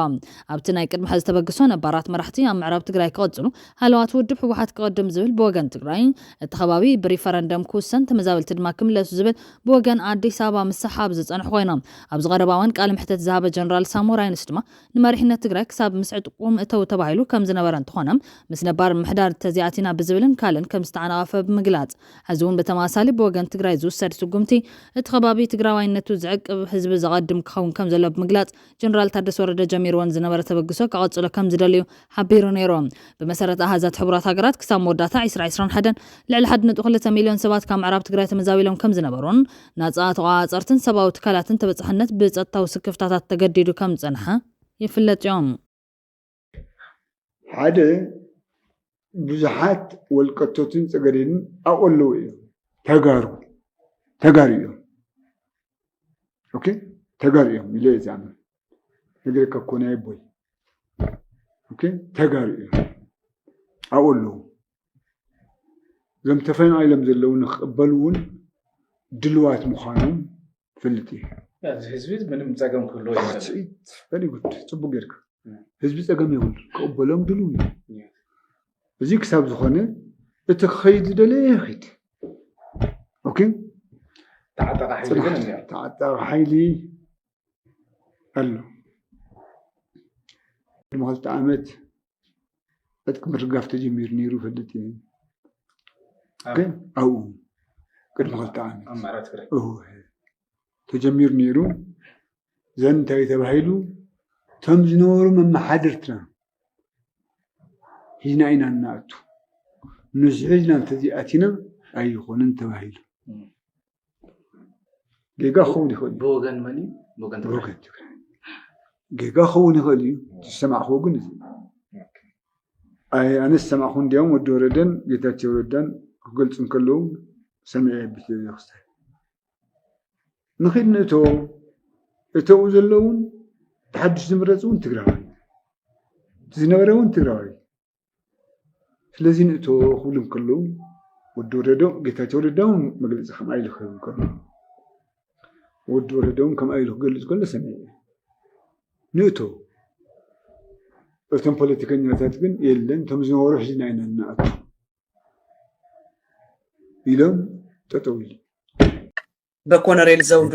ኣብቲ ናይ ቅድሚ ሕዚ ተበግሶ ነባራት መራሕቲ ኣብ ምዕራብ ትግራይ ክቕጽሉ፣ ሃለዋት ውድብ ህወሓት ክቕድም ዝብል ብወገን ትግራይ፣ እቲ ከባቢ ብሪፈረንደም ክውሰን ተመዛበልቲ ድማ ክምለሱ ዝብል ብወገን ኣዲስ ኣበባ ምስሕሓብ ዝጸንሑ ኮይኖም፣ ኣብዚ ቀረባ እዋን ቃለ መሕተት ዝሃበ ጀነራል ሳሞራ ዩኑስ ድማ ንመሪሕነት ትግራይ ክሳብ ምስ ዕጥቁ ምእተው ተባሂሉ ከም ዝነበረ እንተኾነ ምስ ነባር ምምሕዳር ተዚኣቲና ብዝብልን ካልእን ከም ዝተዓናቐፈ ብምግላፅ ሐዚ እውን ብተመሳሳሊ ብወገን ትግራይ ዝውሰድ ስጉምቲ እቲ ከባቢ ትግራዋይነቱ ዝዕቅብ ህዝቢ ዘቐድም ክኸውን ከም ዘለዎ ብምግላፅ ጀነራል ታደሰ ወረደ ጀሚርዎን ዝነበረ ተበግሶ ከቐፅሎ ከም ዝደልዩ ሓቢሩ ነይሩ። ብመሰረት ኣሃዛት ሕቡራት ሃገራት ክሳብ መወዳእታ ዕስራ ዕስራን ሓደን ልዕሊ ሓድ ነጥቢ ክልተ ሚሊዮን ሰባት ካብ ምዕራብ ትግራይ ተመዛቢሎም ከም ዝነበሩን ናጻ ተቖጻጸርትን ሰብኣዊ ትካላትን ተበጻሕነት ብጸጥታዊ ስክፍታታት ተገዲዱ ከም ዝጸንሐ ይፍለጥዮ። ሓደ ብዙሓት ወልቀቶትን ጸገዴንን ኣብኡ ኣለዉ እዮም። ተጋሩ ተጋሩ እዮም ኦኬ ተጋሩ እዮም ኢለ እየ ዝኣምን ነገረካ እኮ ናይ ኣቦይ ኦኬ ተጋሩ እዮም ኣብኡ ኣለዉ እዞም ተፈናቒሎም ዘለዉ ንክቕበሉ እውን ድልዋት ምዃኖም ፈልጥ እዩ ኣብዚ ህዝቢ ምንም ፀገም ክህልዎ ይኽእልጉድ ፅቡቅ ጌርካ ህዝቢ ፀገም ይብሉ ክቕበሎም ድልው እዩ እዚ ክሳብ ዝኾነ እቲ ክኸይድ ዝደለ ይኸይድ ኦኬ ተዓጠቐ ሓይሊ ግን እኒኦ ተዓጠቐ ሓይሊ ኣሎ ድማ ክልተ ዓመት ዕጥቂ ምርጋፍ ተጀሚሩ ነይሩ ይፈልጥ እየ ግን ኣብኡ ቅድሚ ክልተ ዓመት ተጀሚሩ ነይሩ ዘን እንታይ ተባሂሉ እቶም ዝነበሩ መመሓድርትና ሂዝና ኢና እናኣቱ ንሱ ሒዝና እንተዘይኣቲና ኣይኾንን ተባሂሉ ጌጋ ክኸውን ይኽእል እዩ ብወገን መን እዩ ብወገን ትግራይ ብወገን ትግራይ ጌጋ ክኸውን ይኽእል እዩ ዝሰማዕክዎ ግን እዚ ኣይ ኣነ ዝሰማዕኩ እንዲያውም ወዲ ወረደን ጌታቸው ረዳን ክገልፁ እንከለዉ ሰሚዐ ቤተክርስትያን ንኺድ ንእቶ እተው ዘለውን ተሓድሽ ዝምረፅ እውን ትግራዋይ ዝነበረ እውን ትግራዋይ ስለዚ ንእቶ ክብሉ እንከለዉ ወዲ ወረደው ጌታቸው ረዳውን መግለፂ ከምኣ ኢሉ ክህብ እንከሎ ወዲ ወረደውን ከምኣ ኢሉ ክገልፅ ከሎ ሰሚዐ ንእቶ እቶም ፖለቲከኛታት ግን የለን እቶም ዝነበሩ ሕዝና ኢና እናኣቱ ኢሎም ጠጠው ኢሉ በኮነሬል ዘውዱ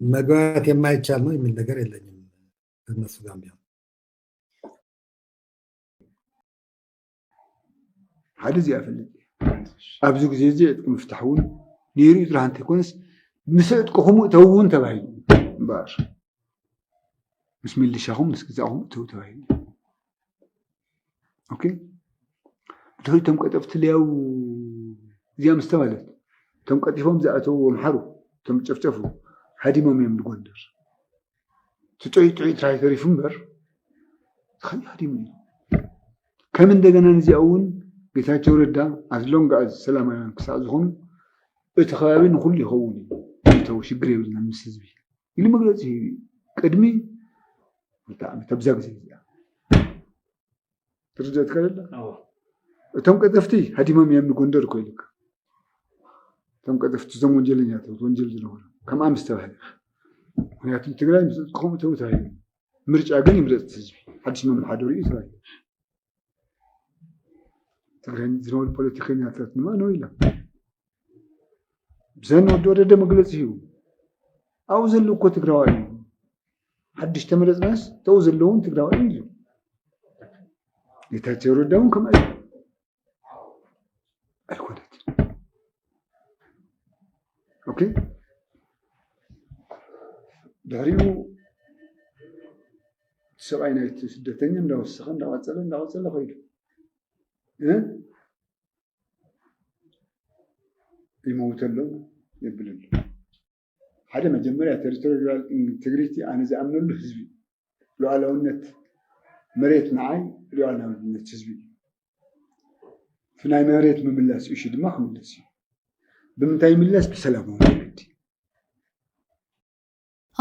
መግባባት የማይቻል ነው የሚል ነገር የለኝም ከነሱ ጋር ቢሆን ሓደ እዚኣ ፈልጥ ኣብዚ ግዜ እዚ ዕጥቂ ምፍታሕ እውን ነይሩ እዩ ጥራሕ እንተይኮነስ ምስ ዕጥቅኹም እተው እውን ተባሂሉ እምበር ምስ ሚሊሻኹም ምስ ግዛእኹም እተው ተባሂሉ ኦኬ ድሕሪ እቶም ቀጠፍቲ ልያው እዚኣ ምስ ተባለት እቶም ቀጢፎም ዝኣተዉ ኣምሓሩ እቶም ጨፍጨፉ ሃዲሞም እዮም ንጎንደር እቲ ጥዑይ ጥዑይ ትራይ ተሪፉ እምበር ዝኸይ ሃዲሙ እዩ ከም እንደገና ንዚኣ እውን ጌታቸው ረዳ ኣዝሎንግ ኣዝ ሰላማውያን ክሳዕ ዝኾኑ እቲ ከባቢ ንኩሉ ይኸውን እዩ ይተው ሽግር የብልና ምስ ህዝቢ ኢሉ መግለፂ ሂቡ እዩ ቅድሚ ክልተ ዓመት ኣብዛ ግዜ እዚኣ ትርደት ከለላ እቶም ቀጠፍቲ ሃዲሞም እዮም ንጎንደር እኮ ኢሉካ እቶም ቀጠፍቲ እዞም ወንጀለኛታት ወንጀል ዝነበሩ ከም ኣምስ ተባሂሉ ምክንያቱ ትግራይ ምስ ከምኡ ተባሂሉ ምርጫ ግን ይምረፅ ህዝቢ ሓድሽ መመሓደሪ እዩ ተባሂሉ ዝነበሩ ፖለቲከኛታት ድማ ነው ኢሎም ብዘን ወዲ ወረደ መግለፂ ሂቡ ኣብኡ ዘለዉ እኮ ትግራዋይ እዩ ሓድሽ ተመረፅናስ ተው ዘለውን ትግራዋይ እዩ ጌታቸው ረዳ እውን ከምኣ እዩ ኣይኮነትን ኦኬ ድሕሪኡ ሰብኣይ ናይቲ ስደተኛ እንዳወሰኸ እንዳቐፀለ እንዳቐፀለ ከይዱ ይመውተሎም የብልሉ ሓደ መጀመርያ ተሪቶሪያል ኢንተግሪቲ ኣነ ዝኣምነሉ ህዝቢ እዩ። ሉኣላውነት መሬት ንዓይ ሉኣላውነት ህዝቢ እዩ። እቲ ናይ መሬት ምምላስ እሹ ድማ ክምለስ እዩ። ብምንታይ ይምለስ? ብሰላማዊ መንገዲ።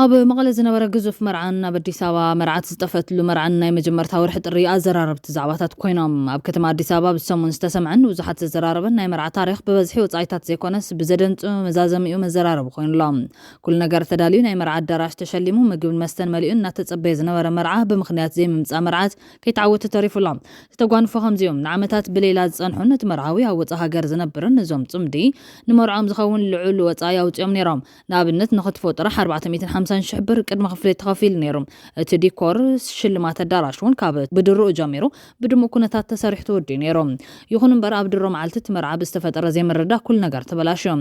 ኣብ መቐለ ዝነበረ ግዙፍ መርዓን ኣብ ኣዲስ ኣበባ መርዓት ዝጠፈትሉ መርዓን ናይ መጀመርታ ወርሒ ጥሪ ኣዘራረብቲ ዛዕባታት ኮይኖም። ኣብ ከተማ ኣዲስ ኣበባ ኣብዚ ሰሙን ዝተሰምዐን ንብዙሓት ዘዘራረበን ናይ መርዓ ታሪኽ ብበዝሒ ወጻኢታት ዘይኮነስ ብዘደንጹ መዛዘሚኡ መዘራረቢ ኮይኑ ኣሎ። ኩሉ ነገር ተዳልዩ ናይ መርዓ ኣዳራሽ ተሸሊሙ ምግብን መስተን መሊኡ እናተጸበየ ዝነበረ መርዓ ብምኽንያት ዘይምምጻእ መርዓት ከይተዓወተ ተሪፉ ኣሎ። ዝተጓንፎ ከምዚ እዩ። ንዓመታት ብሌላ ዝጸንሑን እቲ መርዓዊ ኣብ ወጻእ ሃገር ዝነብርን እዞም ጽምዲ ንመርዕኦም ዝኸውን ልዑል ወጻኢ ኣውጺኦም ነይሮም። ንኣብነት ንክትፎ ጥራሕ ኣርባዕተ ሚእትን ሓምሳን ሽሕ ብር ቅድመ ክፍሊት ተኸፊሉ ነይሩ። እቲ ዲኮር፣ ሽልማት ኣዳራሽ፣ እውን ካብ ብድሮኡ ጀሚሩ ብድሙቕ ኩነታት ተሰሪሑ ተወዲኡ ነይሩ። ይኹን እምበር ኣብ ድሮ መዓልቲ እቲ መርዓ ብዝተፈጠረ ዘይምርድዳእ ኩሉ ነገር ተበላሽዩ።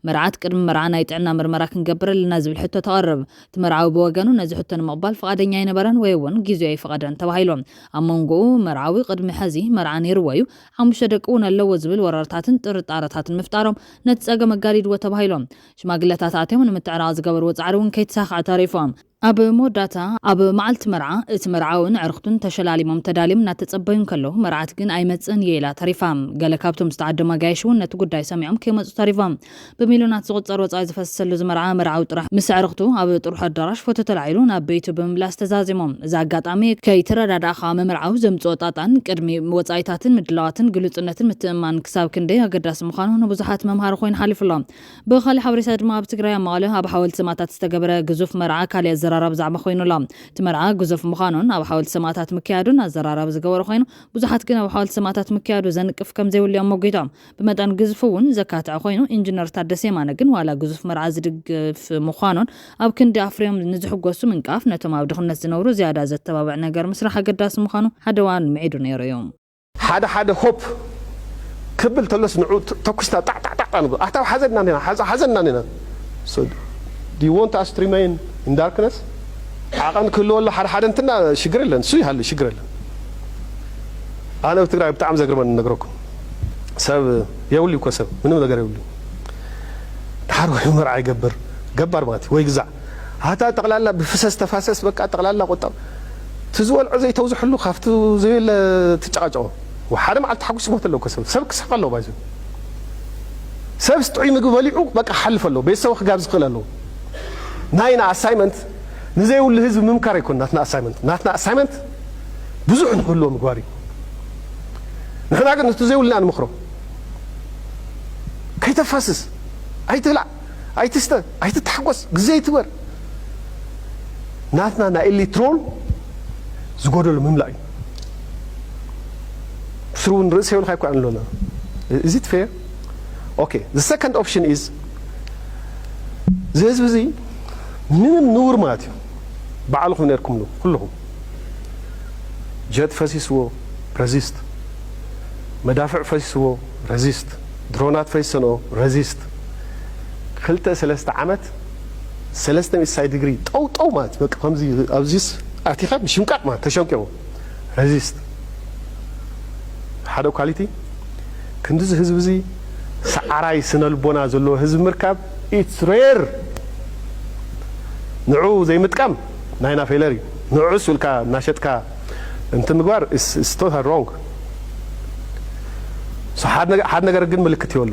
መርዓት ቅድሚ መርዓ ናይ ጥዕና ምርመራ ክንገብር ኣለና ዝብል ሕቶ ተቕርብ። እቲ መርዓዊ ብወገኑ ነዚ ሕቶ ንምቕባል ፍቓደኛ ኣይነበረን ወይ እውን ጊዜኡ ኣይፈቐደን ተባሂሉ። ኣብ መንጎኡ መርዓዊ ቅድሚ ሐዚ መርዓ ነይርዎ እዩ፣ ሓሙሽተ ደቂ እውን ኣለዎ ዝብል ወረርታትን ጥርጣረታትን ምፍጣሮም ነቲ ፀገም ኣጋዲድዎ ተባሂሉ። ሽማግለታት ኣትዮም ንምትዕራቕ ዝገበርዎ ጻዕሪ እውን ከይተሳኽዐ ተሪፎም። ኣብ መወዳእታ ኣብ መዓልቲ መርዓ እቲ መርዓውን ኣዕርኽቱን ተሸላሊሞም ተዳልዮም እናተጸበዩ እንከለዉ መርዓት ግን ኣይመጽእን እየ ኢላ ተሪፋ። ገለ ካብቶም ዝተዓደሙ ኣጋይሽ እውን ነቲ ጉዳይ ሰሚዖም ከይመጹ ተሪፎም። ብሚልዮናት ዝቑጸር ወጻኢ ዝፈሰሰሉ እዚ መርዓ መርዓዊ ጥራሕ ምስ ኣዕርኽቱ ኣብ ጥርሑ ኣዳራሽ ፎቶ ተላዒሉ ናብ ቤቱ ብምምላስ ተዛዚሞም። እዚ ኣጋጣሚ ከይተረዳዳእኻ ምምርዓው ዘምጽኦ ጣጣን ቅድሚ ወጻኢታትን ምድላዋትን ግሉጽነትን ምትእምማንን ክሳብ ክንደይ ኣገዳሲ ምዃኑ ንብዙሓት መምሃሪ ኮይኑ ሓሊፉ ኣሎ። ብኻልእ ሓበሬታ ድማ ኣብ ትግራይ ኣብ መቐለ ኣብ ሓወልቲ ሰማእታት ዝተገበረ ግዙፍ መርዓ ካሊእ ኣዘራራቢ ዛዕባ ኮይኑ ኣሎ። እቲ መርዓ ግዙፍ ምዃኑን ኣብ ሓወልቲ ሰማእታት ምክያዱን ኣዘራራቢ ዝገበሮ ኮይኑ ብዙሓት ግን ኣብ ሓወልቲ ሰማእታት ምክያዱ ዘንቅፍ ከምዘይብሉ እዮም ሞጊቶም። ብመጠን ግዝፉ እውን ዘካትዐ ኮይኑ ኢንጅነር ታደሰ የማነ ግን ዋላ ግዙፍ መርዓ ዝድግፍ ምዃኑን ኣብ ክንዲ ኣፍርዮም ንዝሕጎሱ ምንቃፍ ነቶም ኣብ ድኽነት ዝነብሩ ዝያዳ ዘተባብዕ ነገር ምስራሕ ኣገዳሲ ምዃኑ ሓደ እዋን ምዒዱ ነይሩ እዩ። ሓደ ሓደ ሆፕ ክብል ተሎስ ንዑ ተኩስና ጣዕ ጣዕ ጣዕ ንብል ኣታ ሓዘና ኒና ሓዘና ኒና so do you want us to remain in darkness ዓቐን ክህልወሉ ሓደ ሓደ እንትና ሽግር የለን እሱ ይሃሉ ሽግር የለን ኣነ ኣብ ትግራይ ብጣዕሚ ዘግርመኒ ነግረኩም ሰብ የብሉ እኮ ሰብ ምንም ነገር የብሉ ድሓር ወይ መርዓ ይገብር ገባር ማለት ወይ ግዛዕ ሃታ ጠቅላላ ብፍሰስ ተፋሰስ በቃ ጠቅላላ ቁጠባ እቲ ዝበልዖ ዘይተውዝሕሉ ካብቲ ዘየለ ትጨቃጨቆ ወሓደ መዓልቲ ተሓጉሱ ይሞት ኣሎ እኮ ሰብ ሰብ ክስሕቅ ኣለዎ ባይዘ ሰብስ ጥዑይ ምግቢ በሊዑ በቃ ክሓልፍ ኣለዎ ቤተሰቡ ክጋብዝ ክክእል ኣለዎ ናይና ኣሳይመንት ንዘይብሉ ህዝቢ ምምካር ኣይኮን ናትና ኣሳይመንት ናትና ኣሳይመንት ብዙሕ ንክህልዎ ምግባር እዩ ንሕና ግን እቲ ዘይብልና ንምክሮ ከይተፋስስ ኣይትብላዕ ኣይትስተ ኣይትታሓጎስ ግዜ ኣይትግበር ናትና ናይ ኤሊትሮን ዝጎደሎ ምምላእ እዩ ስሩ ውን ርእሲ የብልካ ይኮ ኣሎ እዚ ትፈየ ኦኬ the second option is እዚ ህዝቢ እዚ ምንም ንውር ማለት እዩ በዓልኹም ነርኩምሉ ኩልኹም ጀት ፈሲስዎ ረዚስት መዳፍዕ ፈሲስዎ ረዚስት ድሮናት ፈሲሰንኦ ረዚስት ክልተ ሰለስተ ዓመት ሰለስተ ሚእቲ ሳይ ድግሪ ጠው ጠው ማለት በቃ ከምዚ ኣብዚስ ኣቲካ ምሽምቃቅ ማለት ተሸምቂቁ ረዚስት ሓደ ኳሊቲ ክንድዚ ህዝቢ እዚ ሰዓራይ ስነልቦና ዘለዎ ህዝቢ ምርካብ ኢትስ ሬር ንዑ ዘይምጥቃም ናይና ፌለር እዩ ንዑስ ውልካ እናሸጥካ እንትን ምግባር ኢትስ ቶታል ሮንግ ሓደ ነገር ግን ምልክት ይወሉ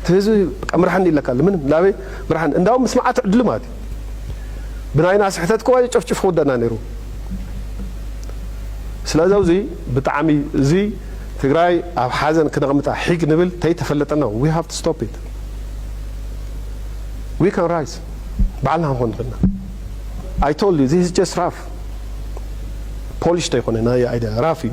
እቲ ህዝቢ በቃ ምርሓኒ ኢለካ ኣሎ ምንም ናበይ ምርሓኒ እንዳውም ምስማዓ ትዕድሉ ማለት እዩ ብናይና ስሕተት ከዋ ጨፍጭፍ ክውደና ነይሩ ስለዚ ኣብዚ ብጣዕሚ እዚ ትግራይ ኣብ ሓዘን ክነቕምጣ ሒግ ንብል ተይተፈለጠና ዊ ሃቭ ቱ ስቶፕ ኢት ዊ ካን ራይዝ በዓልና ክንኾን ንኽእልና ኣይ ቶልድ ዩ ዚስ ጀስት ራፍ ፖሊሽ ተይኮነ ናይ ኣይደ ራፍ እዩ